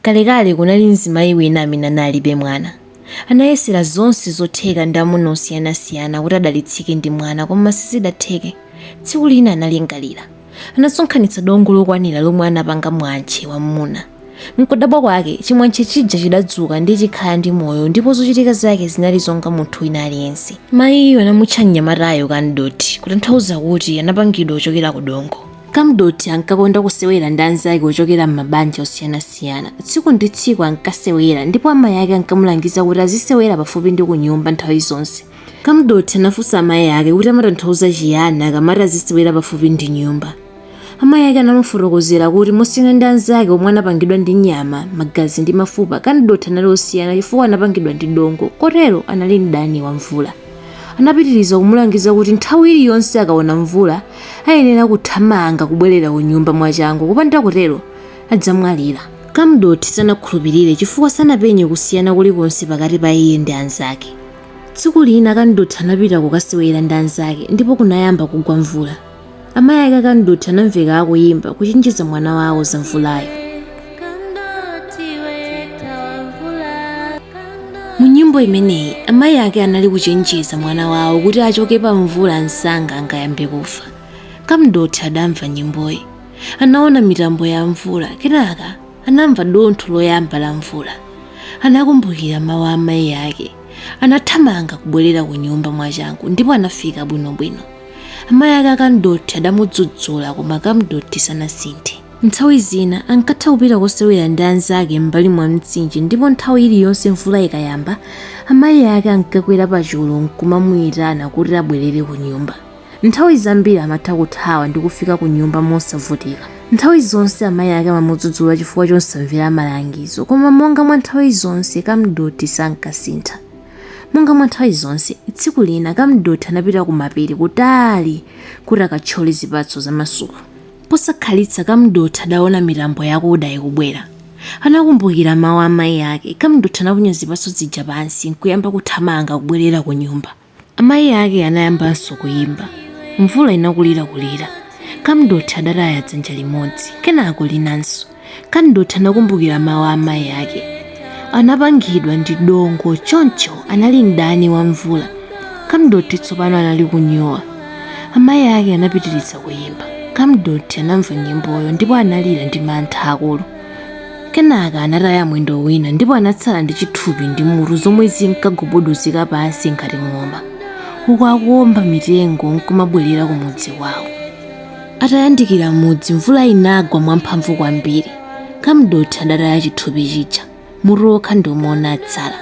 Kalekale kunali mzimayi wina amene analibe mwana. Anayesera zonse zotheka ndi amuna osiyanasiyana kuti adalitsike ndi mwana koma sizidatheke. Tsiku lina analingalira. Anasonkhanitsa dongo lokwanira lomwe anapanga mwantche wa mmuna. Mkudabwa kwake, chimwantche chija chidadzuka ndi kukhala ndi moyo ndipo zochitika zake zinali zonga munthu wina aliyense. Mayiyo anamutcha mnyamatayo Kamdothi kutanthauza kuti anapangidwa kuchokera ku dongo. Kamdothi ankakonda kusewera ndi anzake ochokera m'mabanja osiyanasiyana. Tsiku ndi tsiku ankasewera ndipo amayi ake ankamulangiza kuti azisewera pafupi ndi kunyumba nthawi zonse. Kamdothi anafunsa amayi ake kuti amatanthauza chiyani akamati azisewera pafupi ndi nyumba. Amayi ake anamufotokozera kuti mosiyana ndi anzake omwe anapangidwa ndi nyama, magazi ndi mafupa, Kamdothi anali wosiyana chifukwa anapangidwa ndi dongo, kotero anali mdani wa mvula. Anapitiriza kumulangiza kuti nthawi iliyonse akaona mvula, ayenera kuthamanga kubwerera kunyumba mwachangu kupanda kutero adzamwalira. Kamdothi sanakhulupirire chifukwa sanapenye kusiyana kulikonse pakati pa iye ndi anzake. Tsiku lina Kamdothi anapita kukasewera ndi anzake ndipo kunayamba kugwa mvula. Amayi ake Kamdothi anamveka akuyimba kuchenjeza mwana wawo za mvulayo. mu nyimbo imeneyi amayi ake anali kuchenjeza mwana wawo kuti achoke pa mvula msanga angayambe kufa kamdothi adamva nyimboyi anaona mitambo ya mvula kenaka anamva dontho loyamba la mvula anakumbukira mawu a amayi ake anathamanga kubwerera ku nyumba mwachangu ndipo anafika bwinobwino amayi ake a kamdothi adamudzudzula koma kamdothi sanasinthe Nthawi zina ankatha kupita kosewera ndi anzake m'mbali mwa mtsinje ndipo nthawi iliyonse mvula ikayamba, amayi ake ankakwera pachulu n'kumamuitana kuti abwerere kunyumba. Nthawi zambiri amatha kuthawa ndi kufika kunyumba mosavutika. Nthawi zonse amayi ake amamudzudzula chifukwa chosamvera malangizo, koma monga mwa nthawi zonse, Kamdothi sankasintha. Monga mwa nthawi zonse, tsiku lina Kamdothi anapita kumapiri kutali kuti akathyole zipatso za masuku. Posakhalitsa Kamdothi adaona mitambo yakuda ikubwera. Anakumbukira mawu a mayi ake. Kamdothi anaponya zipatso zija pansi n'kuyamba kuthamanga kubwerera kunyumba. Amayi ake anayambanso kuimba. Mvula inakulirakulira. Kamdothi adataya dzanja limodzi, kenako linanso. Kamdothi anakumbukira mawu a amayi ake. Anapangidwa ndi dongo, choncho anali mdani wa mvula. Kamdothi tsopano anali kunyowa. Amayi ake anapitiriza kuyimba. Kamdothi anamva nyimboyo ndipo analira ndi mantha akulu. Kenaka anataya mwendo wina ndipo anatsala ndi chithupi ndi mutu zomwe zinkagubuduzika pansi ngati ng'oma, uku akuwomba mitengo n'kumabwerera ku mudzi kwawo. Atayandikira mudzi, mvula inagwa mwamphamvu kwambiri. Kamdothi adataya chithupi chija, mutu wokha ndi womwe unatsala.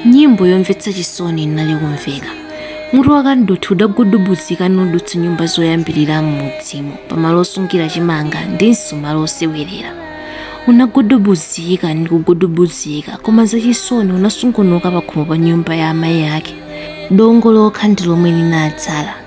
Nyimbo yomvetsa chisoni inali kumveka. Mutu wa Kamdothi udagudubuzika nudutsa nyumba zoyambirira m'mudzimo, pamalo osungira chimanga ndinso malo osewerera. Unagudubuzika ndi kugudubuzika, koma zachisoni unasungunuka pakhomo pa nyumba ya amayi ake. Dongo lokha ndi lomwe linatsala.